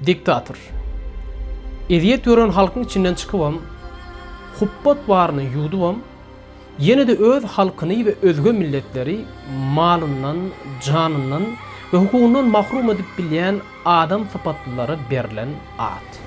Diktator. Ezýet gören halkyň içinden çykybam, hupbat baryny ýuwdubam, ýene-de öz halkyny we özge milletleri malyndan, janyndan we hukugyndan mahrum edip bilýän adam sypatlylara berlen at.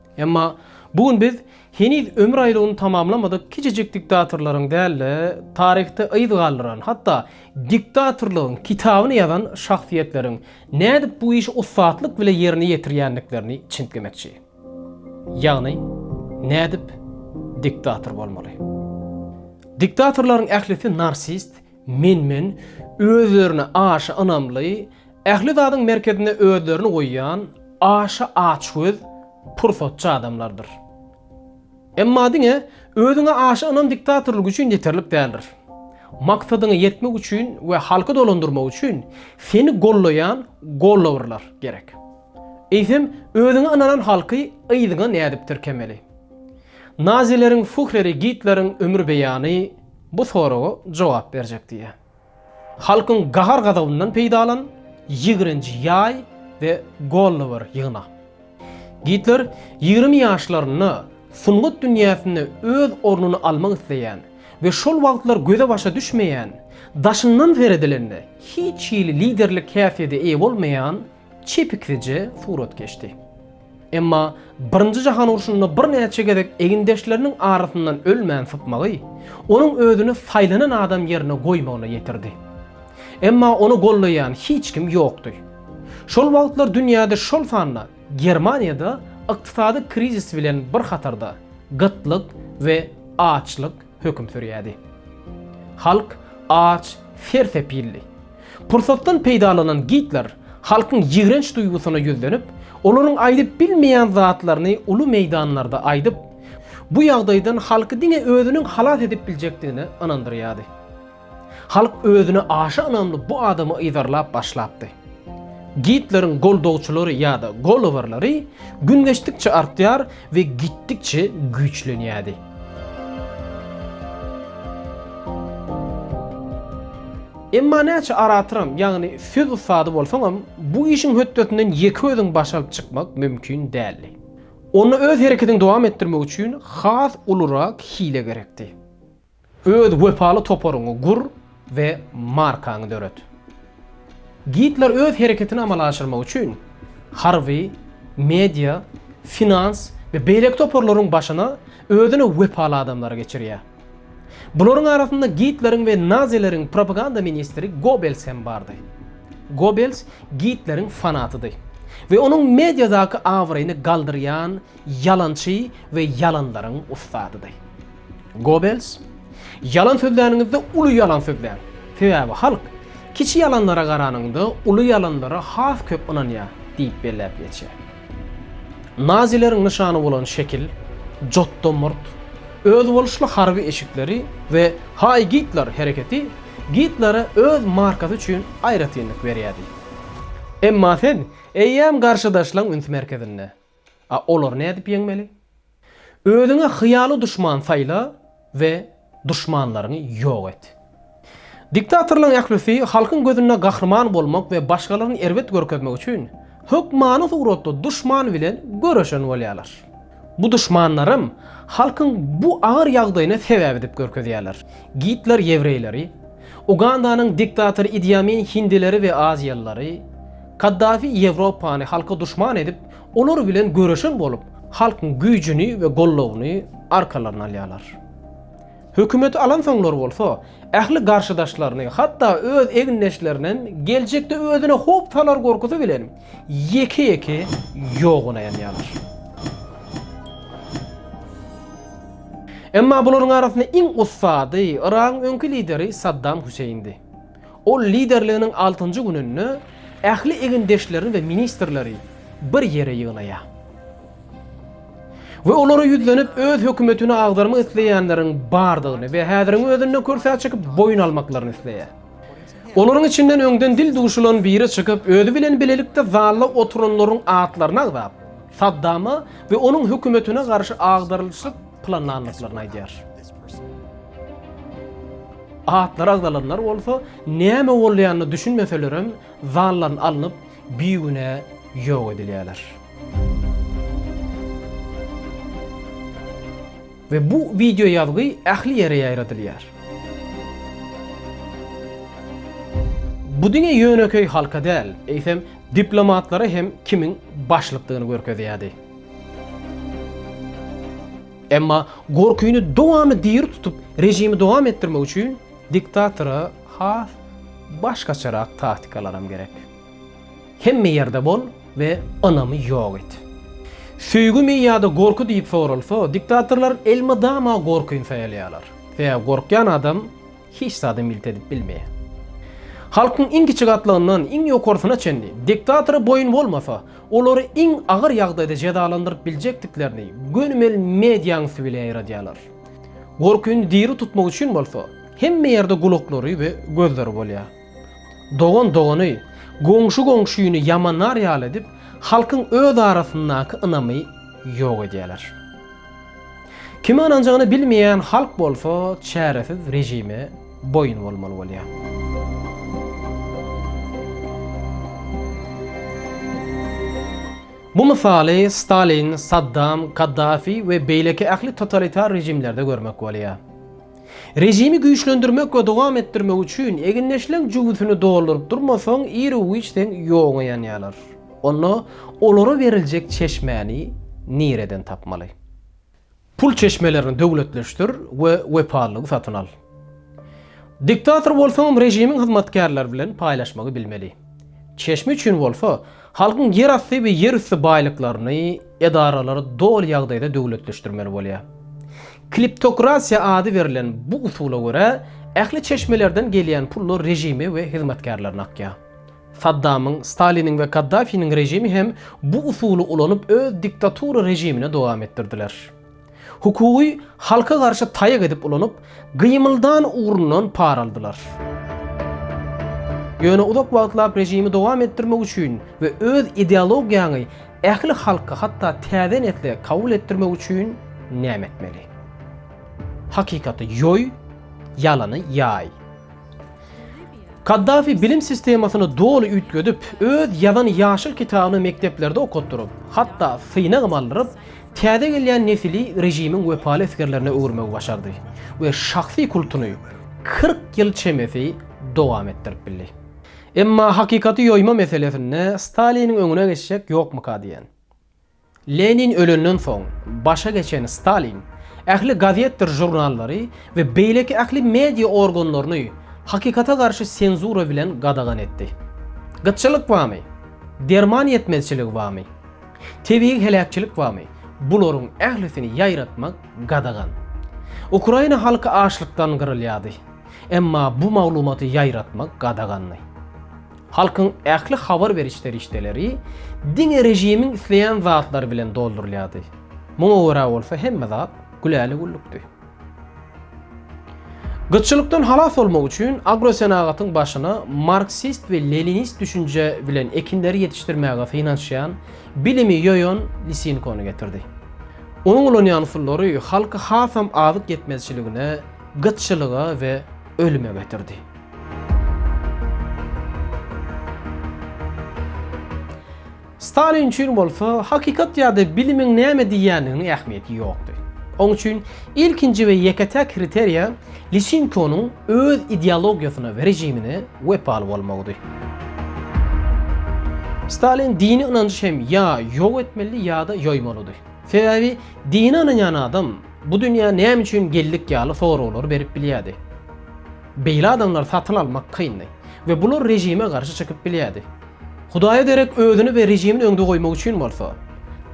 Emma bu gün biz heniz ömür aýlawyny tamamlamadyk kiçijik diktatorlaryň däl-de, taryhda yz galdyran, hatda diktatorlygyň kitabyny ýazan şahsyýetleriň nädip bu işi ussatlyk bile ýerine ýetirýändiklerini çintgemekçi. Ýagny, nädip diktator bolmaly? Diktatorlaryň ählisi narsist, Men-men, özlerine aşa ynamly, ähli zadyň merkezinde özlerini goýýan, aşa açgöz, pursatçy adamlardyr. Emma diňe özüňe aşa ynam diktatorlyk üçin ýeterlik däldir. Maksadyňa ýetmek üçin we halky dolandyrmak üçin seni gollaýan gollawyrlar gerek. Eýsem, özüňe ynanan halky yzyňa nädip tirkemeli? Nazileriň Fuhreri Gitleriň ömür beýany, Bu soraga jogap berjek diýýär. Halkyň gahar-gazabyndan peýdalan, ýigrenji ýaý we golla bir ýygna. Gitler ýigrimi ýaşlarynda sungat dünýäsinde öz ornuny almak isleýän we şol wagtlar göze-başa düşmeýän, daşyndan seredilende hiç hili liderlik häsiýete eýe bolmaýan çepiklije surat geçdi. Emma Birinji jahan urşunda birnäçe gezek egindeşleriniň arasyndan ölmän sypmagy, onuň özüni saýlanan adam ýerine goýmagyna ýetirdi. Emma ony goldaýan hiç kim ýokdy. Şol wagtlar dünýäde şol sanda Germaniýada ykdysady krizis bilen bir hatarda gytlyk we açlyk höküm sürýärdi. Halk aç, sersepildi. Pursatdan peýdalanan Gitler halkyň ýigrenç duýgusyna ýüzlenip, olaryň aýdyp bilmeýän zatlaryny uly meýdanlarda aýdyp, bu ýagdaýdan halky diňe özüniň halas edip biljekdigine ynandyrýardy. Halk özüne aşa ynamly bu adamy yzarlap başlapdy. Gitleriň goldawçylary ýa-da gollowerleri gün geçdikçe artýar we gitdikçe güýçlenýärdi. Emma näçe aratoram, ýagny söz ussady bolsaňam, bu işiň hötdesinden ýeke özüň baş alyp çykmak mümkin däldi. Onda öz hereketiňi dowam etdirmek üçin has ulurak hile gerekdi. Öz wepaly toparyňy gur we markaňy döret. Gidler öz hereketini amala aşyrmak üçin harby, media, finans we beýleki toparlaryň başyna özüne wepaly adamlary geçirýär. Bularyň arasynda gidleriň we nazileriň propaganda ministri Gobels hem bardy. Gobels gidleriň fanatydy we onuň mediadaky abraýyny galdyrýan Ýalançy we ýalanlaryň ussadydy. Gobels, Ýalan sözläniňizde uly ýalan sözläň. Sebäbi halk, kiçi ýalanlara garanyňda, uly ýalanlara has köp ynanýar diýip belläp geçýär. Nazileriň nyşany bolan şekil, jotda murt, özboluşly harby eşikleri we Haý Gitler! hereketi Gitlere öz markasy üçin aýratynlyk berýärdi. Emma sen eýýäm garşydaşlaň üns merkezinde. A olary nädip ýeňmeli? Özüňe hyýaly duşman saýla we duşmanlaryňy ýok et. Diktatorlaryň ählisi halkyň gözünde gahryman bolmak we başgalaryny erbet görkezmek üçin hökmany suratda duşman bilen göreşen bolýarlar. Bu duşmanlaram halkyň bu agyr ýagdaýyny sebäp edip görkezýärler. Gitler ýewreýleri, Ugandanyň diktatory Idi Amin hindileri we aziýalylary, Kaddafi Ýewropany halka duşman edip, olar bilen göreşen bolup, halkyň güýjüni we goldawyny arkalaryna alýarlar. Hökümeti alansoňlar bolsa, ähli garşydaşlaryny, hatda öz egindeşlerinem geljekde özüne howp salar gorkusy bilen, ýeke-ýeke ýoguna ýanýarlar. Emma bularyň arasynda iň ussady Yragyň öňki lideri Saddam Hüseýindi. Ol liderliginiň altynjy gününde ähli egindeşlerini we ministrleri bir ýere ýygnaýar. We olara ýüzlenip, öz hökümetini agdarmak isleýänleriň bardygyny we häziriň özünde kürsä çykyp boýun almaklaryny isleýär. Olaryň içinden öňden dil duşulan biri çykyp, özi bilen bilelikde zalda oturanlaryň atlaryny agzap, Saddama we onuň hökümetine garşy agdarylyşyk planlandyklaryny aýdýar. Atlary agzalanlar bolsa, näme bolýanyna düşünmeselerem, zaldan alnyp, bigünä ýok edilýärler. We bu wideo ýazgy ähli ýere ýaýradylýar. Bu diňe ýönekeý halka däl, eýsem diplomatlara hem kimiň başlykdygyny görkezýärdi. Emma gorkyny dowamy diri tutup rejimi dowam etdirmek üçin diktatora has başgaçarak taktikalaram gerek. Hemme ýerde bol we ynamy ýok et. Söýgümi ýa-da gorky diýip soralsa, diktatorlar elmydama gorkyny saýalýarlar. Sebäbi gorkýan adam hiç zady milt edip bilmeýär. Halkyň iň kiçi gatlagyndan iň ýokarsyna çenli diktatora boýun bolmasa, olary iň agyr ýagdaýda jezalandyryp biljekdiklerini gönümel mediaň üsti bile ýaýradýarlar. Gorkyny diri tutmak üçin bolsa, hemme ýerde gulaklary we gözleri bolýar. Dogan dogany, goňşy goňşyny ýamanlar ýaly edip, halkyň öz arasyndaky ynamy ýok edýärler. Kime ynanjagyny bilmeýän halk bolsa çäresiz režime boýun bolmaly bolýar. Bu mysaly Stalin, Saddam, Kaddafi we beýleki ähli totalitar režimlerde görmek bolýar. Režimi güýçlendirmek we dowam etdirmek üçin egindeşleň jübüsini dolduryp durmasaň ir-u-giç seň ýoguňa ýanýarlar. Onda olara beriljek çeşmäni nireden tapmaly? Pul çeşmelerini döwletleşdir we wepalylygy satyn al. Diktator bolsaňam režimiň hyzmatkärleri bilen paýlaşmagy bilmeli. Çeşme üçin bolsa Halkyň ýerasty we ýerüsti baýlyklaryny edaralary doly ýagdaýda döwletleşdirmeli bolýar. Kleptokratiýa ady berlen bu usula görä, ähli çeşmelerden gelýän pullar režime we hyzmatkärlerine akýar. Saddamyň, Staliniň we Kaddafiniň režimi hem bu usuly ulanyp öz diktatura režimini dowam etdirdiler. Hukugy halka garşy taýak edip ulanyp, Gymyldan ugrundan par aldylar. Ýöne uzak wagtlap režimi dowam etdirmek üçin we öz ideologiýaňy ähli halka hatda täze nesle kabul etdirmek üçin näme etmeli? Hakykaty ýoý, ýalany ýaý. Kaddafi bilim sistemasyny doly üýtgedip, öz ýazan ýaşyl kitabyny mekdeplerde okatdyryp, hatda synagam aldyryp, täze gelýän nesili režimiň wepaly esgerlerine öwürmegi başardy we şahsy kultuny kyrk ýyl çemesi dowam etdirip bildi. Emma hakykaty ýoýma meselesinde Staliniň öňüne geçjek ýokmyka diýen. Lenin ölenden soň, başa geçen Stalin ähli gazetdir žurnallary we beýleki ähli media organlaryny hakykata garşy senzura bilen gadagan etdi. Gytçylyk bamy? Derman ýetmezçiligi bamy? Tebigy heläkçilik bamy? Bularyň ählisini ýaýratmak gadagan. Ukraina halky açlykdan gyrylýardy. Emma bu maglumaty ýaýratmak gadagandy. Halkyň ähli habar beriş serişdeleri diňe režimiň isleýän zatlary bilen doldurylýardy. Muňa görä bolsa hemme zat güläle-güllükdi. Gytçylykdan halas bolmak üçin agrosenagatyň başyna marksist we leninist düşünje bilen ekinleri ýetişdirmäge synanyşýan, bilimi ýoýan Lisinkony getirdi. Onuň ulanýan usullary halky hasam azyk ýetmezçiligine, gytçylyga we ölüme getirdi. Stalin üçin bolsa hakykat ýa-da bilimiň näme diýýändiginiň ähmiýeti ýokdy. Oň üçin ilkinji we ýeke-täk kriteriýa Lisenkonyň öz ideologiýasyna we režimine wepaly bolmagydy. Stalin dini ynanjy hem ýa ýok etmelidi ýa-da ýoýmalydy. Sebäbi dine ynanýan adam bu dünýä näme üçin geldik ýaly soraglar berip bilýärdi. Beýle adamlary satyn almak kyndy we bular režime garşy çykyp bilýärdi. Hudaýa derek özüni we režimiň öňde goýmak üçin bolsa,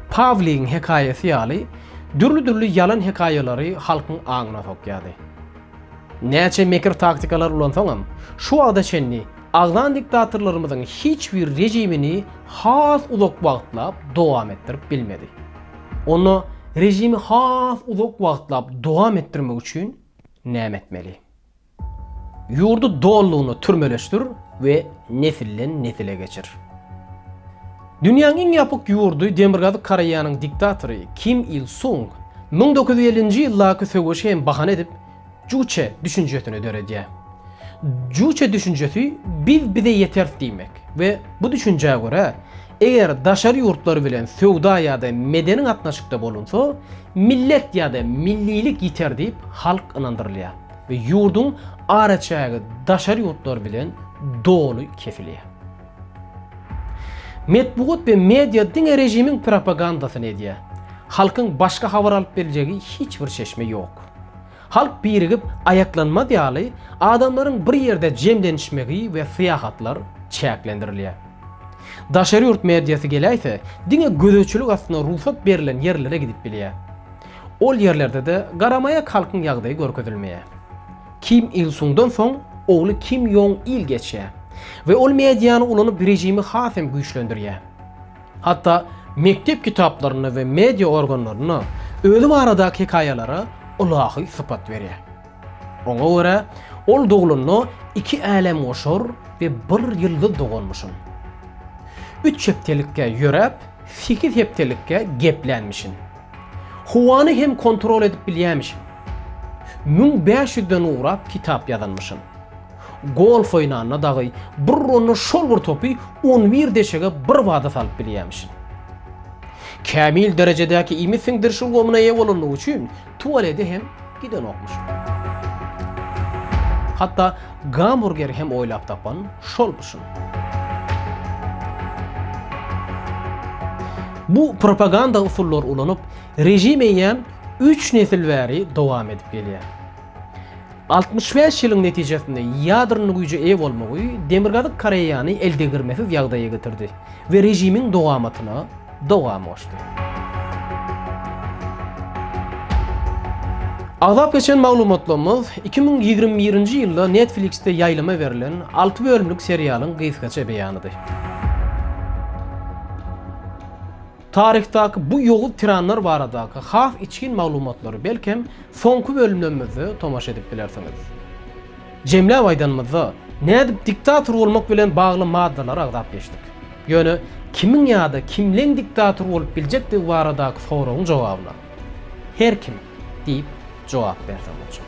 Pawligiň hekaýasy ýaly dürli-dürli ýalan hekaýalary halkyň aňyna sokýardy. Näçe mekir-taktikalar ulansaňam, şu wagta çenli agzan diktatorlarymyzyň hiç biri režimini has uzak wagtlap dowam etdirip bilmedi. Onda režimi has uzak wagtlap dowam etdirmek üçin Näme etmeli? Ýurdy dolulygyna türmeleşdir we nesilden nesile geçir. Dünýäň iň ýapyk ýurdy Demirgazyk Koreýanyň diktatory Kim Il Sung müň dokuz ýüz ellinji ýyldaky söweşi hem bahana edip Juçe düşünjesini döredýär. Juçe düşünjesi biz bize ýeteris diýmek. We bu düşünjä görä, eger daşary ýurtlar bilen söwda ýa-da medeni gatnaşykda bolunsa, millet ýa-da millilik ýiter diýip halk ynandyrylýar we ýurduň araçägi daşary ýurtlar bilen doly kesilýär. Metbugat we media diňe režimiň propagandasyny edýär. Halkyň başga habar alyp biljegi hiç bir çeşme ýok. Halk birigip aýaklanmaz ýaly, adamlaryň bir ýerde jemlenişmegi we syýahatlar çäklendirilýär. Daşary ýurt mediasy geläýse, diňe gözegçilik astynda rugsat berlen ýerlere gidip bilýär. Ol ýerlerde-de garamaýak halkyň ýagdaýy görkezilmeýär. Kim Il Sungdan soň ogly Kim Ýong Il geçýär we ol mediany ulanyp režimi has hem güýçlendirýär. Hatda mekdep kitaplarynda we media organlarynda özi baradaky hekaýalara ylahy sypat berýär. Oňa görä, ol doglanda iki älemgoşar we bir ýyldyz doganmyşyn. Üç hepdelikkä ýöräp, sekiz hepdelikkä geplänmişin. Howany hem kontrol edip bilýämişin. Müň bäş ýüzden ugrap kitap ýazanmyşyn. Golf oýnanda dagy bir runda şol bir topy on bir deşege birbada salyp bilýämiş. Kämil derejedäki iýmit siňdiriş ulgamyna eýe bolandygy üçin tualede hem gidenokmyş. Hatda gamburgeri hem oýlap tapan şolmuşyn. Bu propaganda usullary ulanyp, režim eýýäm üç nesil bäri dowam edip gelýär. Altmyş bäş ýylyň netijesinde ýadrony güýje eýe bolmagy Demirgazyk Koreýany eldegirmesiz ýagdaýa getirdi we režimiň dowamatyna dowam goşdy. Agzap geçen maglumatlarymyz iki müň ýigrimi birinji ýylda Netflix-de ýaýlyma berlen alty bölümlik serialyň gysgaça beýanydy. Taryhdaky bu ýowuz tiranlar baradaky has içgin maglumatlary belkem soňky bölümlerimizde tomaşa edip bilersiňiz. Jemläp aýdanymyzda, nädip diktator bolmak bilen bagly maddalary agzap geçdik. Ýöne kimiň ýa-da kimleň diktator bolup biljekdigi baradaky soragyň jogabyna Her kim diýip jogap berse boljagy.